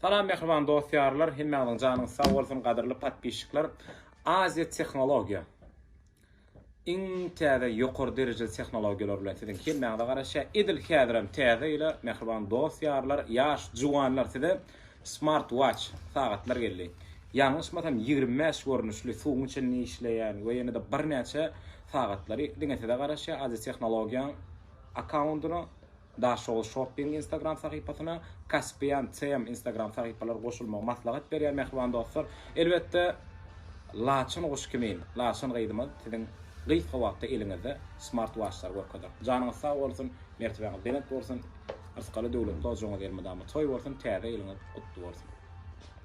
Salam mähriban dost ýarlar hemmäňiziň janyňyz sag bolsun gadyrly podpisçikler Aziýa tehnologiýa iň täze ýokary derejeli tehnologiýalar bilen siziň hemmäňize garaşýa edil häzirem täze ýyla mähriban dost ýarlar ýaş juwanlar size smart watch sagatlar geldi ýalňyşmasam ýigrimi bäş görnüşli suwuň içinde işleýän we ýene-de birnäçe sagatlary diňe size garaşýa Aziýa tehnologiýanyň akkaundyna Daşoguz Shopping Instagram sahypasyna, Caspian CM Instagram sahypalar goşulmagy maslahat berýär mähriban dostlar. Elbetde Laçyn guş kimin Laçyn gyzymyz siziň gysga wagtda eliňizde smart waçlary görkezer. Janyňyz sag bolsun, mertebäňiz belent bolsun, ysgaly döwletli ojagyňyz elmydama toý bolsun, täze ýylyňyz gutly bolsun.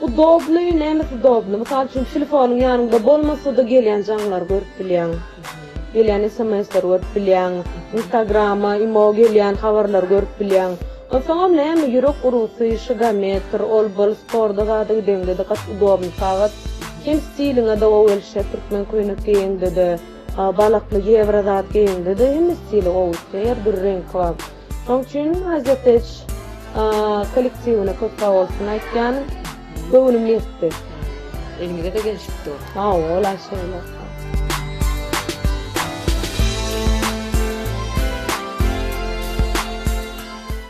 Udobny, näme udobny? Mysal üçin telefonyň ýanyňda bolmasa-da gelýän jaňlary görüp bilýäň. Gelýän sms-leri görüp bilýäň. Instagrama, imo gelýän habarlary görüp bilýäň. Onsoňam näme ýürek urgusy, şigometr, ol bul sporda zada gideňde-de gaty udobny sagat. Hem stiliňe-de gowy gelişýär, türkmen köýnek geýeňde-de, balakly ýewro zat geýeňde-de hemme stili gowy gitýär, her dürli reňki bar. Şoň üçin Azerteç kollektiwine köp sagbolsun aýtýan. Göwnüm ýetdi. Elimize-de gelşip dur. Sagbola şeýle.